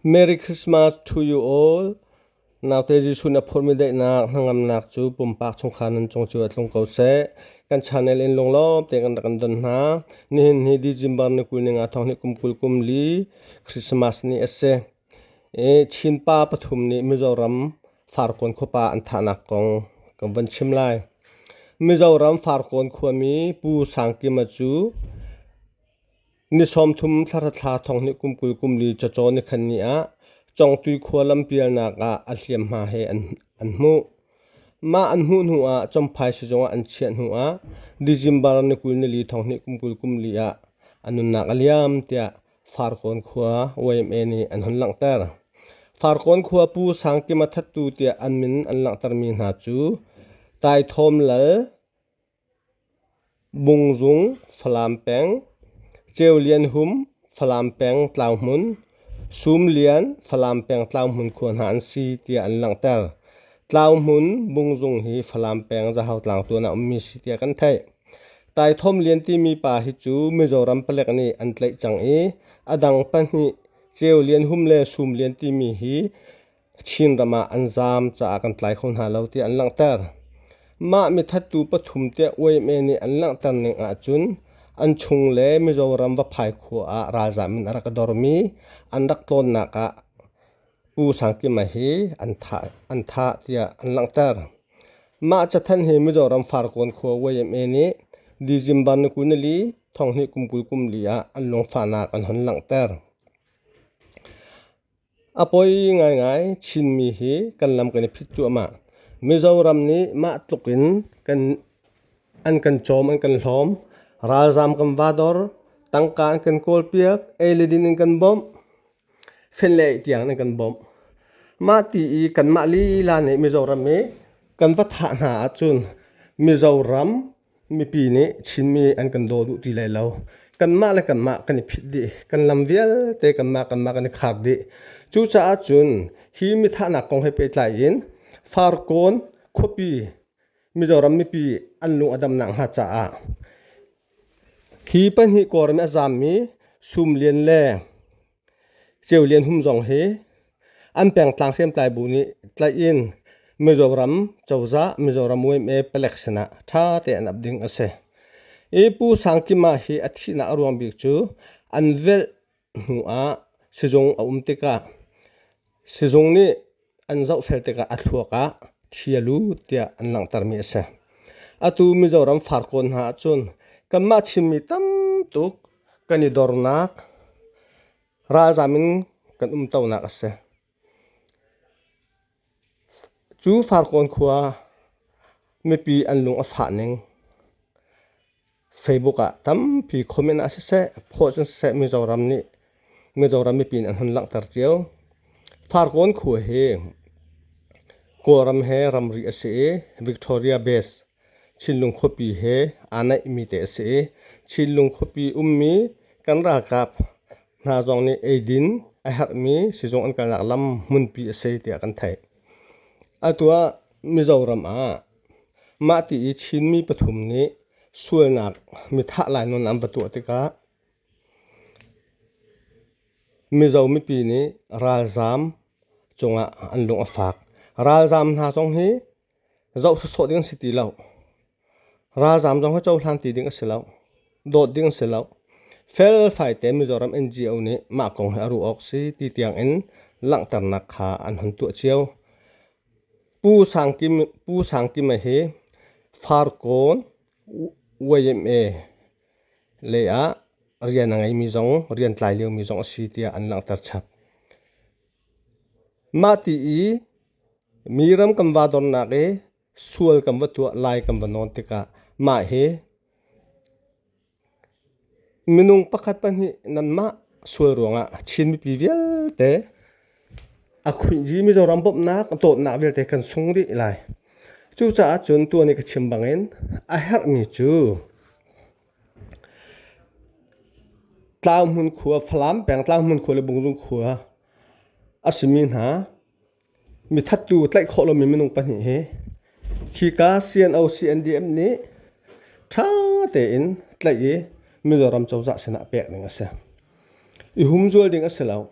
Merry Christmas to you all. Naute Jesuh na phurmi daihnak hnangamnak cu pumpak chungkhar nan cung cu a tlung ko seh. Kan channel in lunglawm te kan rak kan don hna. Nihin hi December ni kul ni nga thong ni kum kul kum li Christmas ni a si. E, Chinpa pathum nih Mizoram Farkawn khuapa an thahnak kong kan van chim lai. Mizoram Farkawn khuami Pu Sang Kima cu Ni sawmthum thlahra thla thonghnih kum kul kum li cacaw ni khan ni ah Congtui khua lampialnak ah a hliamhma he an hmuh. Mah an hmuh hnu ah Chomphai sizung ah an chiah hnu ah December ni kul ni li thonghnih kum kul kum li ah a nunnak a liam tiah Farkawn khua YMA nih an hun langhter. Farkawn khua pu Sangkima Thattu tiah an min an langhtermi hna cu Taithawm Lal, Bungzung Falam peng Ceu Lian Hum Falam peng tlau hmun Sum Lian Falam peng tlau hmun khua hna an si tiah an langhter. Tlau hmun Bungzung hi Falam peng Zahau tlangtuan ah ummi si tiah kan theih. Taithawm Lian timi pa hi cu Mizoram palek nih an tlaih cang i a dang pahnih Ceu Lian Hum le Sum Lian timi hi Chinram ah an zaam caah kan tlai kho hna lo tiah an langhter. Mah mithattu pathum tiah UMA nih an langhter ning ahcun an chung le Mizoram Vaphai khua ah ralzaam in a rak dormi an rak tlawnnak ah Pu Sang Kima hi an thah, an thah tiah an langhter. Mah cathanh hi Mizoram Farkawn khua UMA nih December ni kul ni li thonghni kum kul kum li ah an lungfahnak an hun langhter. A poi ngaingai Chinmi hi kan lam kan i phit cuahmah. Mizoram nih mah tluk in kan, an kan cawm, an kan hlawm. Ralzaam kan va dor, tangka an kan kawlpiak, ei le din in kan bawmh, fen le ei tiang in kan bawmh. Mah ti i kanmah lila nih Mizoram hi kan va thah hna ahcun Mizoram Mipi nih Chinmi an kan daw duh ti lai lo. Kanmah le kanmah kan i phit dih. Kan lam vialte kanmah kanmah kan i khar dih. Cucaah cun hi mithahnak kong he pehtlai in Farkawn khuapi Mizoram mipi an lung a damnak hnga caah hi pahnih kawlram i a zaammi sum lian le Ceu Lian Hum zong hi an pengtlang hriamtlai bu nih tlaih in Mizoram cozah Mizoram yma palek sinah ṭha tein an ap ding a si. I Pu Sang Kima hi a thihnak a ruang bik cu an velh hnu ah sizung a um tikah Sizung nih an zohfel tikah a thluak ah thi a lu tiah an langhtermi a si. Atu Mizoram far kawn hna ahcun kanmah Chinmi tam tuk kan i dornak, ralzam in kan umtonak a si. Cu far kawn khua mipi an lung a fah ning. Facebook ah tampi comment ah siseh post in siseh Mizoram nih Mizoram mipi nih an hun langhter cio. Farkawn khua hi Kawlram he ramri a si i Victoria Base Chinlung khuapi he aa naihmi te a si i Chinlung khuapi ummi kan ralkap hna zong nih eidin a herhmi sizung an kalnak lam hmunpi a si tiah kan theih. Atu ah Mizoram ah Mahti i Chinmi pathum nih sualnak mithah lai nawn an va tuah tikah Mizo mipi nih ralzaam cungah an lung a fak. Ralzaam hna zong hi zoh sawsawh ding a si ti lo. Ralzaam zong hi cohlan ti ding a si lo. Dawt ding a si lo. Felfai te Mizoram NGO nih mah kong hi a ruah awk si ti tiangin langhternak kha an hun tuah cio. Pu Sang Kima hi Farkawn YMA lei ah rian a ngeimi zong rian tlai liomi zong a si tiah an langhter chap. Mah ti i mi ram kan va dornak i sual kan va tuah, lai kan va nawn tikah mah hi Minung pakhat pahnih nanmah sual ruangah Chin mipi vialte a khuihri Mizoram bawmhnak a dawtnak vialte kan sung rih lai. Cucaah cun tuan i ka chim bangin a herhmi cu Tlau hmun khua, Falam peng Tlau hmun khua le Bungzung khua a simi hna Mithattu tlaih khawh lomi minung pahnih hi khika CNO CNDM nih ṭha tein tlaih i Mizoram cozah sinah pek ding a si. I humzual ding a si lo.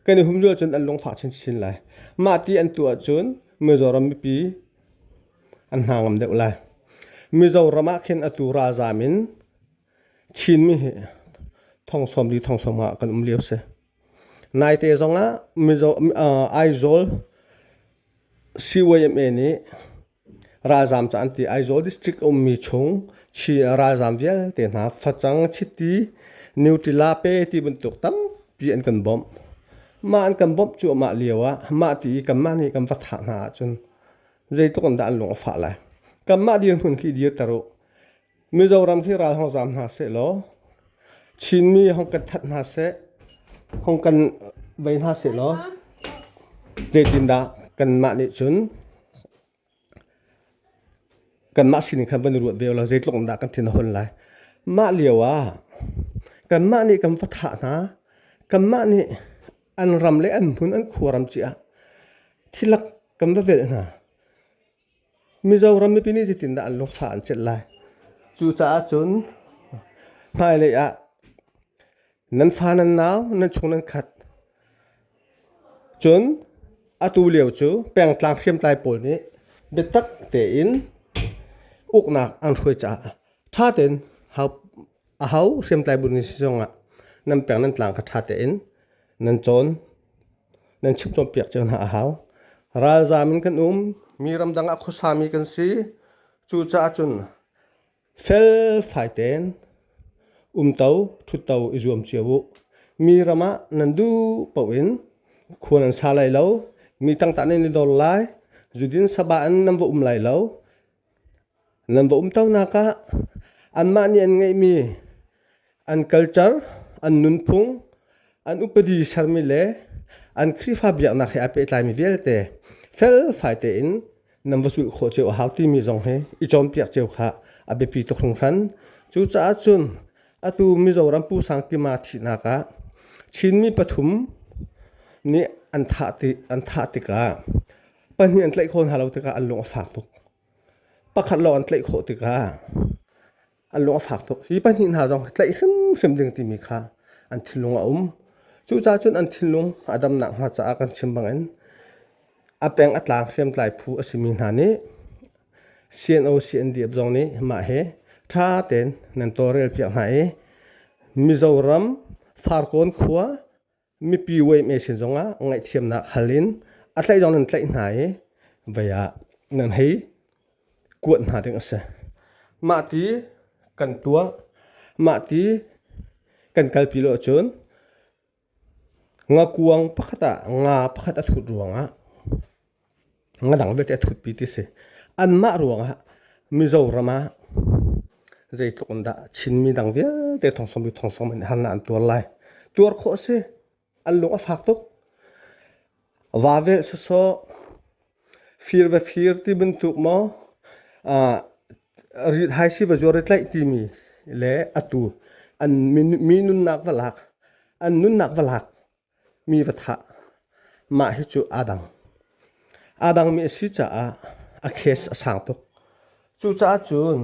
Kan i humzual cun an lungfah chinchin lai. Mah ti an tuah cun Mizoram mipi an hna ngam deuh lai. Mizoram ah khin atu ralzam in Chinmi hi thong sawm li thong sawm ah kan um lio si. Naite zongah Aizawl CYMA nih ralzaam ca an ti. Aizawl district a ummi chung Chin ralzaam vialte hna facang, chiti, niutila-pe ti bantuk tampi an kan bawmh. Mah an kan bawmh cu amah lioah mah ti i kanmah nih kan va thah hna ahcun zeitluk in dah an lung a fah lai. Kanmah dirhmun khi dirter u. Mizoram hi ral hong zam hna seh law Chinmi hong kan that hna seh hong kan vei hna seh law zeitindah kanmah nih cun kanmah sining khan van i ruat ve law zeitluk in dah kan thin a hun lai. Mah lio ah kanmah nih kan va thah hna. Kanmah nih an ram le an hmun an khuaram cia thilak kan va velh hna. Mizoram mipi nih zetindah an lungthla an celh lai? Cucaah cun hmailei ah nan fa nan nau nan chung nan khat cun atu lio cu pengtlang hriamtlai pawl nih biatak tein uknak an hruai caah ṭha tein a hau hriamtlai bu ni si zongah nan peng nan tlang kha ṭha tein nan cawn. nan chim cawnpiak cio hna a hau. Ralzaam in kan um, mi ramdang ah khuasami kan si. Cucaah cun fel fai tein umto ṭhutto i zuam cio u. Mi ram ah nan duh paoh in khua nan sa lai lo, mi tangta nan i dor lai, zudin saba in nan va um lai lo, Nan va umtonak ah anmah nih an ngeihmi an culture, an nunphung, an upadi sermi le an Khrihfa biaknak he aa pehtlaimi vialte felfai tein nan va zulh khawh cio a hau timi zong hi i cawnpiak cio kha a biapi tuk hringhran. Cucaah cun atu Mizoram Pu Sang Kima thihnak ah Chinmi pathum nih an thah an thah tikah Pahnih an tlaih khawh hna lo tikah an lung a fak tuk. Pakhat lawng an tlaih khawh tikah an lung a fak tuk. Hi pahnih hna zong tlaih hrimhrim ding timi kha an thinlung a um. Cucaah cun an thinlung a dam nakhnga caah kan chim bangin a peng a tlang hriamtlai phu a simi hna nih CNO CNDF zong nih mah hi ṭha tein nan tawlrel piak hna i Mizoram Farkawn khua mipi weihme sin zongah ngaihthiamnak hal in a tlaih zong nan tlaih hna i vei ah nan hei kuat hna ding a si. Mah ti kan tuah, mah ti kan kalpi lo cun ngakuang pakhat ah nga pakhat a thut ruangah Ngadang vialte a thutpi ti si. Anmah ruangah Mizoram ah zeitluk in dah Chinmi dang vialte thongsawm i thongsawm in harnak an tuar lai. Tuar khawh a si. An lung a fak tuk. Vavelh sawsawh, fir va fir ti bantuk maw, ah haisi va zuar i tlaih timi le atu an mi nunnak va lak, an nunnak va lak Mi va thah. Mah hi cu aa dang. Aa dangmi a si caah a case a sang tuk. Cucaah cun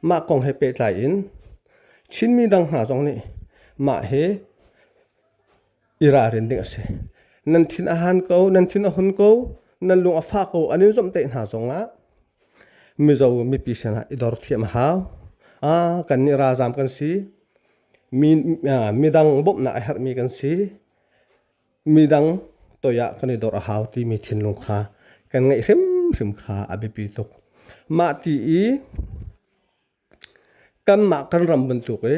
mah kong he pehtlai in Chinmi dang hna zong nih mah hi i ralrin ding a si. Nan thin a han ko, nan thin a hun ko, nan lung a fah ko an in zomh tein hna zongah Mizo mipi sinah i dor thiam a hau. Aa kannih ralzam kan si. midang bawmhnak a herhmi kan si. Midang toi ah kan i dor a hau timi thinlung kha kan ngeih hrimhrim kha a biapi tuk. Mah ti i kanmah kan ram bantuk i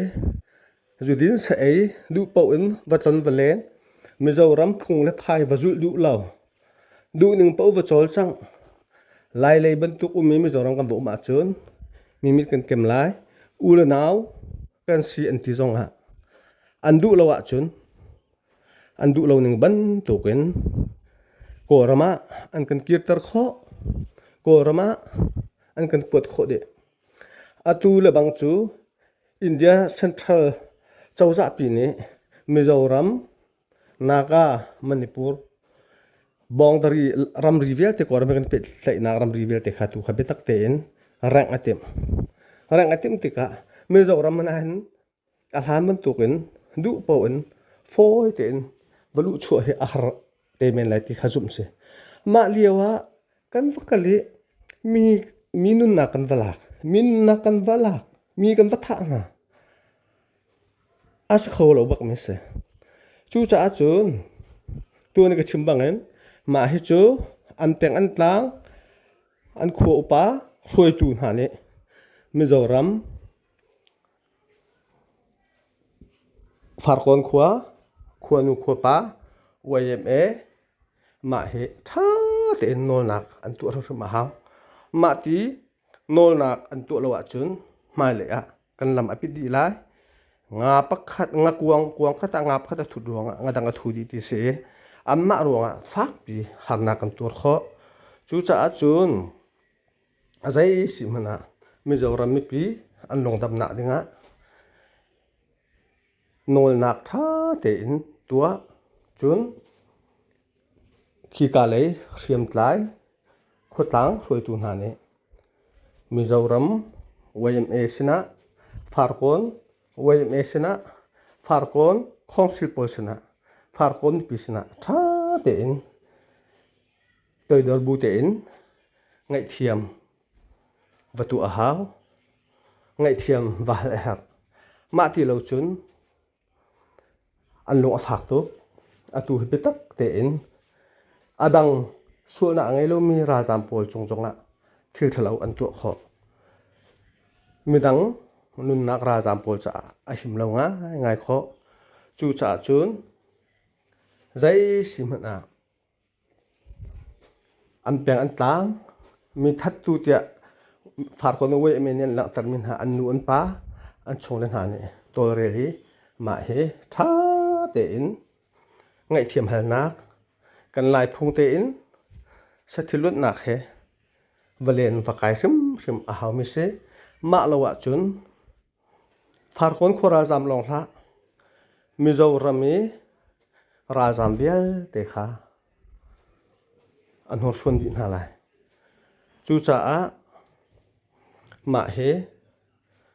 zudin sa ei duh paoh in va tlon va len Mizoram phung le phai va zulh duh lo. Duhning paoh va cawl cang. Lailei bantuk um i Mizoram kan vohum ahcun mimit kan kem lai. U le nau kan si an ti zongah an duh lo ahcun an duh lo ning bantuk in Kawlram ah an kan kirter khawh. Kawlram ah an kan kuat khawh dih. Atu lebang cu India Central cozahpi nih Mizoram Naga Manipur boundary ramri vialte kor kan pet tlaihnak ramri vialte kha tu kha biatak tein rengh a timh. Rengh a timh tikah Mizoram nain a hlan bantuk in duh po in fawi tein valuh chuah hi a har te men lai ti kha zumh si. Mah lio ah kan va kal i mi, mi nunnak kan va lak, mi nunnak kan va lak, mi kan va thah hna. a si kho lo bak mi a si. Cucaah cun tuan ka chim bangin mah hi cu an peng an tlang an khua upa hruaitu hna nih Mizoram Farkawn khua khuanu khuapa YMA mah hi ṭha tein nawlnak an tuah hrimhrim a hau. Mah ti Nawlnak an tuah lo ahcun hmailei ah kan lam a pit dih lai. Nga pakhat, nga kuang, kuang khat ah nga pakhat a thut ruangah nga dang a thu dih ti si i anmah ruangah fakpi harnak kan tuar khawh. Cucaah cun zei si hmanh ah Mizoram mipi an lungdam nak dingah nawlnak ṭha tein tuah. Cun Khika lei hriamtlai khuatlang hruaitu hna nih Mizoram YMA sinah Farkawn YMA sinah Farkawn Council pawl sinah Farkawn mipi sinah ṭha tein toidor bu tein ngaihthiam va tuah a hau. Ngaihthiam va hal a herh. Mah ti lo cun An lung a fak tuk. Atu hi biatak tein a dang sualnak a ngei lomi ralzaam pawl cung zongah thil ṭhalo an tuah khawh. Midang nunnak ralzaam pawl caah a him lo ngaingai khawh. Cucaah cun zei si hmanh ah An peng an tlang. Mi thattu tiah Farkawn le Wei men nih an langhtermi hna an nu, an pa, an chung le hna nih tawlrel i mah hi tha tein ngaihthiam halnak, kan Laiphung tein sathil luatnak he va len va kai hrimhrim a haumi si. Mah lo ahcun Farkawn khua ralzaam lawng hlah, Mizoram i ralzaam vialte kha a hnursuan dih hna lai. Cucaah mah hi